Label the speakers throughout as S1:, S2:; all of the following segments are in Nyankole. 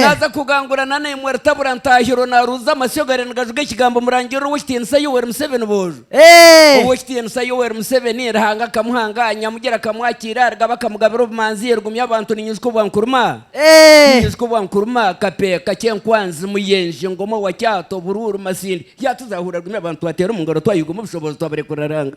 S1: Naaza kugangurana naimwe Rutabura Ntahirwa naaruuza amasyo gari nigajuga ekigambo Omurangirirwa Ow'ekitiinisa Yoweri Museveni boojo. Ow'ekitiinisa Yoweri Museveni, Ruhanga akamuhanga, Nyamugira akamwakiira, Rugaba akamugabira obumanzi, Rugumya abantu ni Nyijuka Obwankuruma, Ni Nyijuka Obwankuruma, Kape, Kakye, Nkwanzi, Muyenje, Ngoma, Wakyato, Buruuru, Masindi, Yaatuzaahura rugumi abantu twateera omu ngaro twayuga omu bushoboozi twabarekurira Ranga.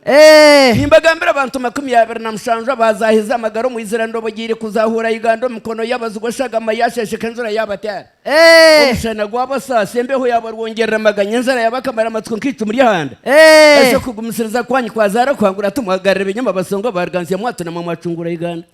S1: Nimbagambira abantu makumi abiri na mushanju abaazaahize amagara omu izira ndobogiire kuzaahuura Uganda omu mikono y'abazigu eshagama yaasheesheka enjura yaabateera. Omushana gwabasaasa, embeho yaabarwongyerera amaganya, enjara yaabakamara amatsiko nk'eicumu ry'ehanda. Eishe okugumisiriza kwanyu kwazaara kwangura timwagarira ebinyoma abasonga baarugaantsya mwatuna mwe mwacungura Uganda.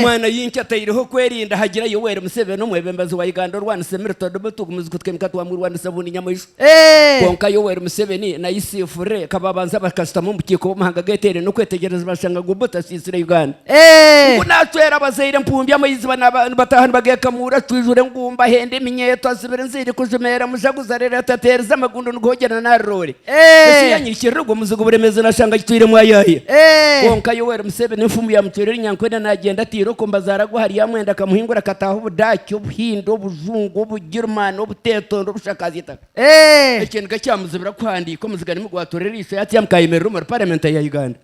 S1: Mwana Yinki ataireho okwerinda hagira Yoweri Museveni omwebembezi wa Uganda orwanisa emirito dubu tugumuzi kutwimika twamwirwa ni sabuuni nyamaishwa. Kwonka Yoweri Museveni na Yusufu Re kababanza bakashutama omu bukiiko bw'amahanga geteire n'okwetegyereza bashanga gubu tashisire Uganda. Ngu nacwera abazaire empumbi amaizi nibataha nibagekamuura acwijura engumba ahenda eminyeeto azibira enziri kujumeera mujaguzi arereta ateerize amagundu niguhogyera nari roore. Ensi yanyirikirira ogwo muzigu Buremeezi nashanga agitwiremu ayaaye. Kwonka Yoweri Museveni enfumu yamucwera Elinyankore nagyenda ataire okwo mbazaara gwe ahari Amwenda akamuhingura akataaha Obudaaki, Obuhindi, Obujungu, Obugirimaani, Obuteetondo, Obushakaazi eitaka. Ekyo niga kyamuzibira kuhandiika omuziga nimi gwatoola eriisho yatyaama akayemerera omuri Paramenti ya Uganda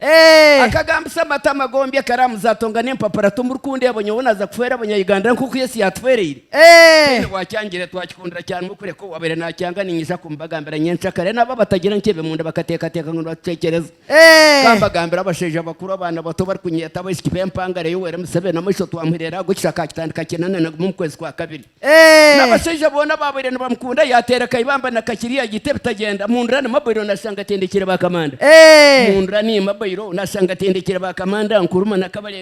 S1: akagambisa amatama gombi akaramuza atonga n'empapura Tomurikundeeba nyowe naza kufeera Abanya-Uganda nk'oku Yesu yatufeereire. Mbwenu bwakyangire twakikundira kya ngu kureka owaabaire naakyanga niinyiza kumubagambira nyentsya kare nabo abatagira nkyebe omunda bakateekateeka ngu nibatucwekyereza. Ka mbagambire abashaija abakuru abaana bato barikunyeeta abaishiki b'empangare Yoweri Museveni amaisho twamuhurira aha gw'ekisha akaakitandika kinane na gumwe omu kwezi kwa kabiri. N'abashaija boona abaabaire nibamukunda yaateera Kaibamba na Kakiri yagiita ebitagyenda. Mundura ni Mabairo naashanga atindikiire ba Kamanda. Mundura ni Mabairo naashanga atindikiire ba Kamanda, Nkurumah na Kabarebe.